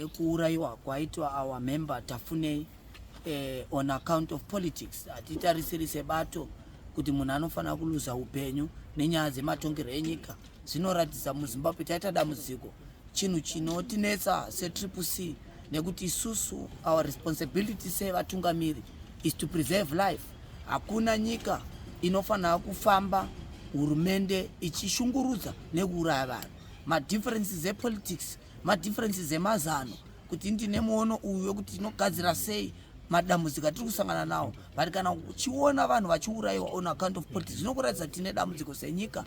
kuurayiwa kwaitwa our member tafunei eh, on account of politics hatitarisiri sebato kuti munhu anofanira kuluza upenyu nenyaya dzematongerwo enyika zvinoratidza muzimbabwe taita dambudziko chinhu chinotinetsa setriple c nekuti isusu our responsibility sevatungamiri is to preserve life hakuna nyika inofanira kufamba hurumende ichishungurudza nekuuraya vanhu madifferences epolitics madifferences emazano kuti ndine muono uyu wekuti tinogadzira sei madambudziko atiri kusangana nawo but kana uchiona vanhu vachiurayiwa on account of poti zvinokuratidza tine dambudziko senyika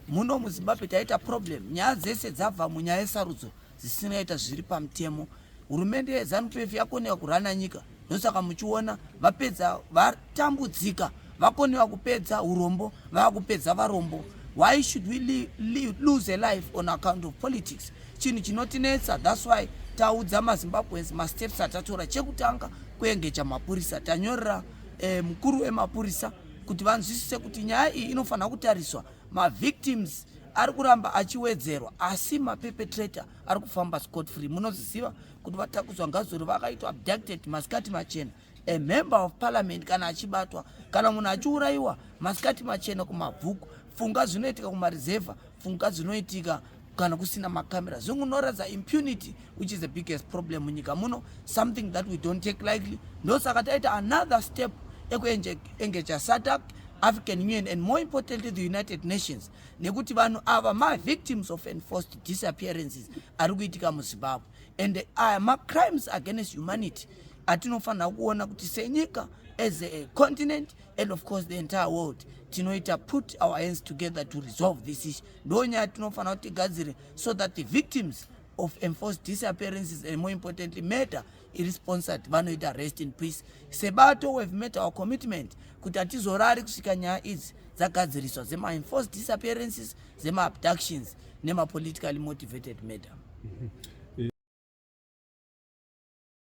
muno muzimbabwe taita problem nyaya dzese dzabva munyaya yesarudzo dzisinoita zviri pamutemo hurumende yezanup f yakoneka kurana nyika ndosaka muchiona vapedza vatambudzika vakonewa kupedza urombo vakupedza varombo why should we li, li, lose a life on account of politics chinhu chinotinetsa thats why taudza mazimbabweans masteps atatora chekutanga kuengeja mapurisa tanyorera eh, mukuru wemapurisa kuti vanzwisise kuti nyaya iyi inofanira kutariswa mavictims ari kuramba achiwedzerwa asi mapepetrator ari kufamba scot free munoziziva kuti vatakudzwa ngazori vakaitwa abducted masikati machena a member of parliament kana achibatwa kana munhu achiurayiwa masikati machena kumabvuku funga zvinoitika kumarizevha funga zvinoitika kana kusina makamera zvingunoratidza impunity which is the biggest problem munyika muno something that we don't take likely ndosaka taita another step ekuengeja satac african union and more importantly the united nations nekuti vanhu ava mavictims of enforced disappearances ari kuitika muzimbabwe and aya macrimes against humanity atinofanira kuona kuti senyika as a continent and of course the entire world tinoita put our hands together to resolve this issue ndo nyaya tinofanira kuti tigadzire so that the victims of enforced disappearances and more importantly murder iri sponsored vanoita rest in peace sebato we've met our commitment kuti hatizorari kusvika nyaya idzi dzagadziriswa dzemaenforced disappearances dzemaabductions nemapolitically motivated madam mm -hmm.